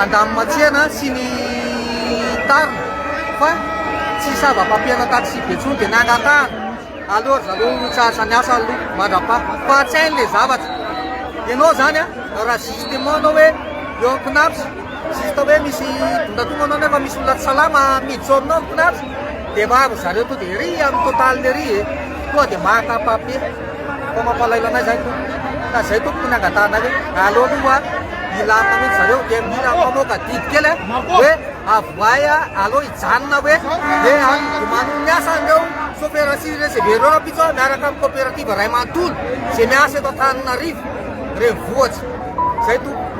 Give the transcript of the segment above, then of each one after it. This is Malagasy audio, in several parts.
Andamimatsiana sy ny tariny fa tsy sava papier-na taxi be tsony de nangatahana aleo ry zareo ho charge ny asa aloha mandrapaha fa tsy hainy le zavatra ianao zany a raha justement anao hoe eo am cnaps juste hoe misy dondatogna anao nefa misy olona tsy salama mijorno am cnaps de maro ry zareo to de ery am total ery e tonga de maka papier Fa mampalahelo anay zay tompoko ka zay tompoko ny angatahanay hoe aleo aloha hilamina mihitsy zareo dia mila mamoaka didy kely a hoe avoahy a aleo hijanona hoe hoe any miomany ny asa an'ireo sofera sy receveur ireo rahampitso a miaraka amin'ny coopérative ray manontolo izay miasa eto Antananarivo renivohitra zay tompoko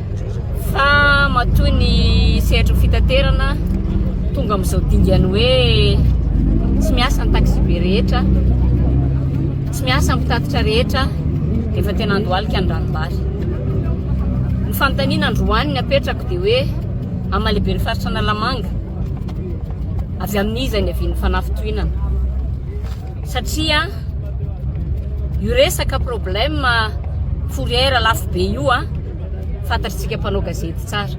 fa matoa ny sehatry ny fitaterana tonga amin'izao dingany hoe tsy miasa ny taxibe rehetra, tsy miasa ny mpitatitra rehetra rehefa tena andohalika ny ranombary. Ny fanontaniana androany ny apetrako dia hoe amalehibe ny faritra Analamanga, avy amin'iza ny avian'ny fanafitohinana? satria io resaka problème fourrière lafo be io a fantatritsika mpanao gazety tsara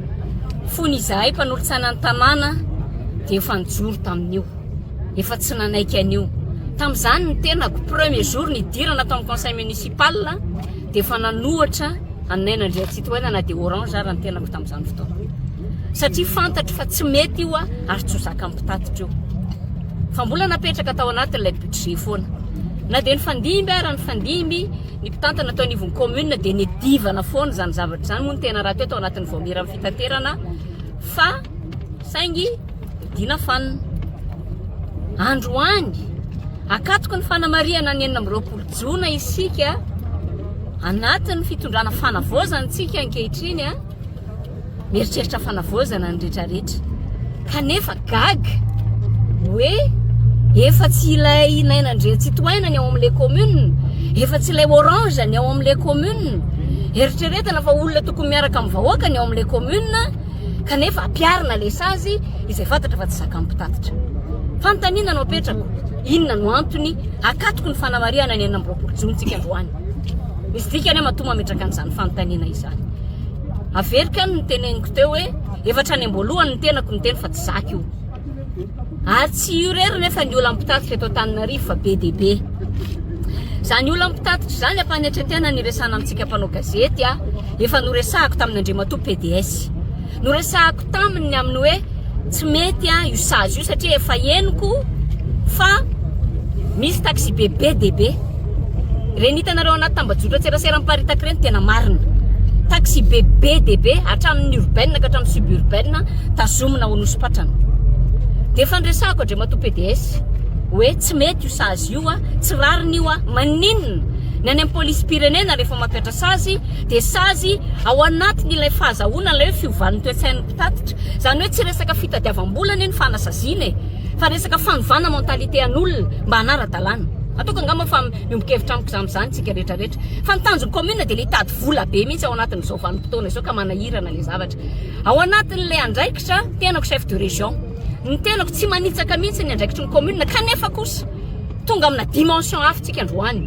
fony izahay mpanolo-tsainan'ny tanàna dia efa nijoro tamin'io efa tsy nanaiky an'io tamin'izany ny tenako premier jour ny idirana tao amin'ny conseil municipal dia efa nanohatra anay nandriantsitohaina na dia orange ary ny tenako tamin'izany fotoana satria fantatro fa tsy mety io a ary tsy ho zakan'ny mpitatitra io fa mbola napetraka tao anatin'ilay budget foana. Na dia nifandimby ara nifandimby ny mpitantana tao anivon'ny commune dia nedivana foana izany zavatra izany moa ny tena raha teo tao anatin'ny vaomiera amin'ny fitaterana fa saingy dina fanina. Androany, akatoko ny fanamarihana ny enina amby roapolo jona isika anatin'ny fitondrana fanavaozantsika ankehitriny mieritreritra fanavaozana ny retraretra kanefa gaga hoe efa tsy ilay naina ndre tsy toaina ny ao amin'ilay commune efa tsy ilay orange ny ao amin'ilay commune eritreretana fa olona tokony miaraka amin'ny vahoaka ny ao amin'ilay commune kanefa ampiarina le sazy izay fantatra fa tsy zakam-pitatitra fanontaniana no apetrako inona no antony akatoko ny fanamarihana ny enina amby roapolo jontsika androany misy dikany matoa mametraka an'izany fanontaniana izany Averiko ihany ny teneniko teo hoe efatra any am-boalohany ny tenako niteny fa tsy zaka io. Ary tsy io rery nefa ny olan'ny mpitatitra eto Antananarivo fa be dia be. Izany olan'ny mpitatitra izany ampanetretena ny resana amintsika mpanao gazety a, efa noresahako tamin'Andriamatoa PDS. Noresahako taminy ny amin'ny hoe tsy mety io sazy io satria efa henoko fa misy taxi-be be dia be. Ireny hitanareo anaty tambajotran-tserasera miparitaka ireny tena marina. Taxi-be be dia be hatramin'ny urbaine ka hatramin'ny suburbaine tazomina ao Anosipatrana. Dia efa niresahako Andriamatoa PDS hoe tsy mety io sazy io, tsy rariny io, maninona ny any amin'ny polisim-pirenena rehefa mampiatra sazy dia sazy ao anatin' ilay fahazahoana ilay hoe fiovan' ny toe-tsain' ny mpitatitra. Izany hoe tsy resaka fitadiavam-bola anie ny fanasaziana e! fa resaka fanovana mentalité-an' olona mba hanara-dalàna. Ataoko angamba fa miombon-kevitra amiko izany amin'izany isika rehetrarehetra. Fa ny tanjon'ny kaominina dia ilay hitady vola be mihitsy ao anatin' izao vanim-potoana izao ka manahirana ilay zavatra. Ao anatin' ilay andraikitra, ny tenako chef de région, ny tenako tsy manitsaka mihitsy ny andraikitry ny kaominina kanefa kosa tonga amina dimension hafa isika androany.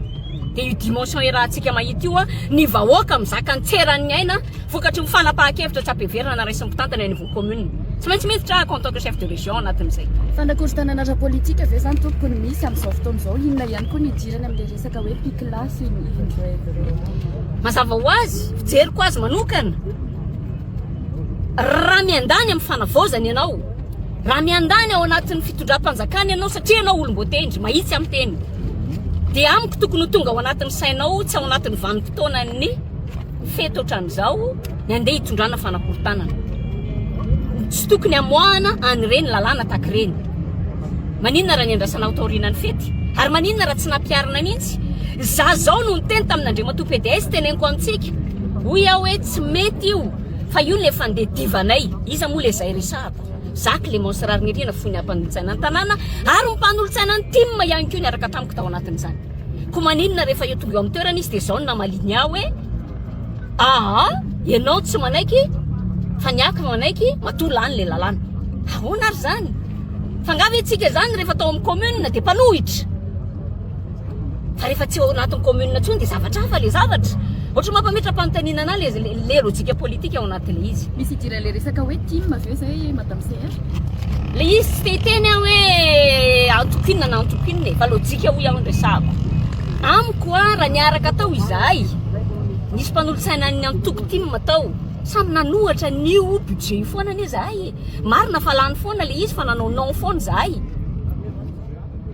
Dia io dimension irahantsika mahita io, ny vahoaka mizaka ny tseran'ny aina vokatry ny fanapahan-kevitra tsy ampiheverana raisin'ny mpitantana eny anivon'ny commune. Tsy maintsy miditra aho en tant que chef de région ao anatin'izay. Fanakorontanana ara-politika ve izany tompoko no misy amin'izao fotoana izao? Inona ihany koa no idirany amin'ilay resaka hoe PICLA sy ny Inrevm? Mazava ho azy, fijeriko azy manokana, raha miandany amin'ny fanavaozana ianao, raha miandany ao anatin'ny fitondram-panjakana ianao satria ianao olom-boatendry, mahitsy amin'ny teny, Dia amiko tokony ho tonga ao anatin'ny sainao tsy ao anatin'ny vanim-potoanan'ny fety ohatran'izao ny andeha hitondrana fanakorontanana. Tsy tokony hamoahana an'ireny lalàna tahaka ireny. Maninona raha niandrasana ho taoriana ny fety? Ary maninona raha tsy nampiharina mihitsy? Za zao no niteny tamin'Andriamatoa PDS teneniko amintsika. Hoy aho hoe tsy mety io fa io no efa nde divanay. Iza moa le zay resahako? Za Clément sy Rarinirina no fony mpanolotsaina ny tanàna ary ny mpanolotsaina ny tim ihany koa niaraka tamiko tao anatin'izany. Koa maninona rehefa eo tonga eo amin'ny toerana izy dia izao no namaliany ahy hoe Aa, ianao tsy manaiky fa ny ahy ka manaiky matoa lany ilay lalàna. Ahoana ary izany? Fa angaha ve isika izany rehefa tao amin'ny commune dia mpanohitra? Fa rehefa tsy ao anatin'ny commune intsony dia zavatra hafa ilay zavatra. Ohatran'ny mampametra-panontaniana anà ilay ilay lojika politika ao anatin'ilay izy. Misy idiran'ilay resaka hoe tim ve izay madame CR? Ilay izy tsy te hiteny aho hoe antoko inona na antoko inona e, fa lojika hoy aho no resahako. Amiko a, raha niaraka tao izahay, nisy mpanolotsaina an'ny antoko tim tao, samy nanohatra an'io budget io foana anie izahay e. Marina fa lany foana ilay izy fa nanao non foana izahay.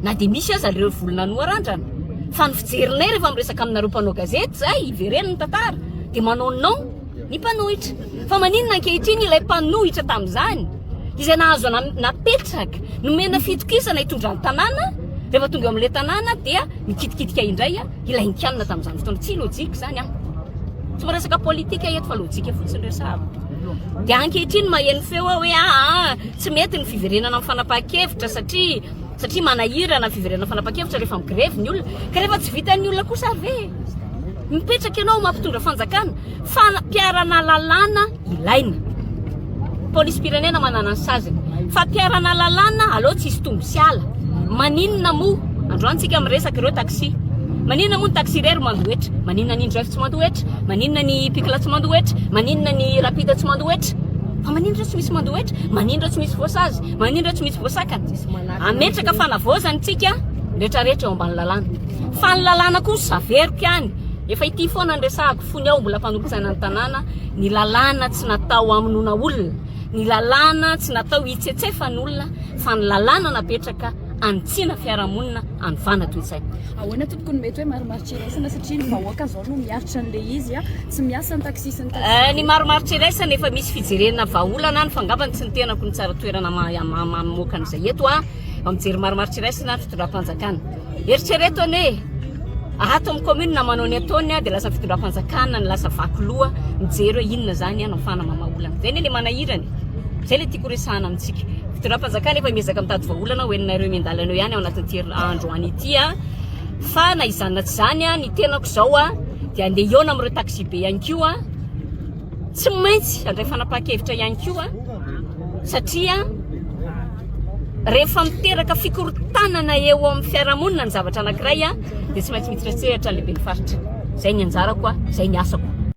Na dia misy aza ireo voly nanoarandrana. Fa ny fijerinay rehefa miresaka aminareo mpanao gazety izay hivereno ny tantara dia manao non ny mpanohitra. Fa maninona ankehitriny ilay mpanohitra tamin'izany izay nahazo napetraka nomena fitokisana hitondra ny tanàna rehefa tonga eo amin'ilay tanàna dia mikitikitika indray? Ilay Indiana tamin'izany fotoana. Tsy lojika izany an! Tsy miresaka politika eto fa lojika fotsiny resahako. Dia ankehitriny maheno feo aho hoe aa ah, ah, tsy mety ny fiverenana amin'ny fanapahan-kevitra satria satria manahirana fiverenana fanapahan-kevitra rehefa migrevy ny olona. Ka rehefa tsy vitan'ny olona kosa ve? Mipetraka ianao mampitondra fanjakana, fa mpiarana lalàna ilaina. Polisim-pirenena manana ny saziny. Fampiharana lalàna, aleo tsisy tombo sy ala. Maninona moa, androany tsika miresaka ireo taxi. Maninona moa ny taxi irery mandohetra? Maninona ny indrive tsy mandohetra? Maninona ny pikla tsy mandohetra? Maninona ny rapide tsy mandohetra? Fa maninona ireo tsy misy mandohetra? Maninona ireo tsy misy voasazy? Maninona ireo tsy misy voasakana? Ametraka fanavaozana tsika retraretra eo ambany lalàna. Fa ny lalàna kosa averiko ihany. Efa ity foana ny resahako. tony aho mbola mpanolotsaina ny tanàna, ny lalàna tsy natao hamonoana olona, ny lalàna tsy natao hitsetsefan'olona fa ny lalàna napetraka hanitsiana fiarahamonina, hanovana toe-tsaina. Ahoana tompoko no mety hoe marimaritra iraisana satria ny vahoaka izao no miaritra an'ilay izy, tsy miasa ny taxi sy ny taxi. Eh, ny marimaritra iraisana efa misy fijerena vahaolana any fa angamba ny tsy ny tenako no tsara toerana mamoaka an'izay eto an, mijery marimaritra iraisana ny fitondram-panjakana. Eritrereto anie e! Ato amin'ny kaominina manao ny ataony dia lasa fitondram-panjakana ny lasa vaky loha mijery hoe inona izany no ahafahana mamaha olana. Izay anie ilay manahirana e! Izay ilay tiako horesahana amintsika. Fitondram-panjakana efa miezaka mitady vahaolana ho henonareo miandalana eo ihany ao anatin'ity herin'ny andro any ity an! Fa na izany na tsy izany an, ny tenako izao an, dia andeha hihaona amin'ireo taxibe ihany koa an, tsy maintsy handray fanapahan-kevitra ihany koa an! satria rehefa miteraka fikorontanana eo amin'ny fiarahamonina ny zavatra anankiray dia tsy maintsy mihitira an-tsehatra ny lehiben'ny faritra. Izay ny anjarako, izay ny asako.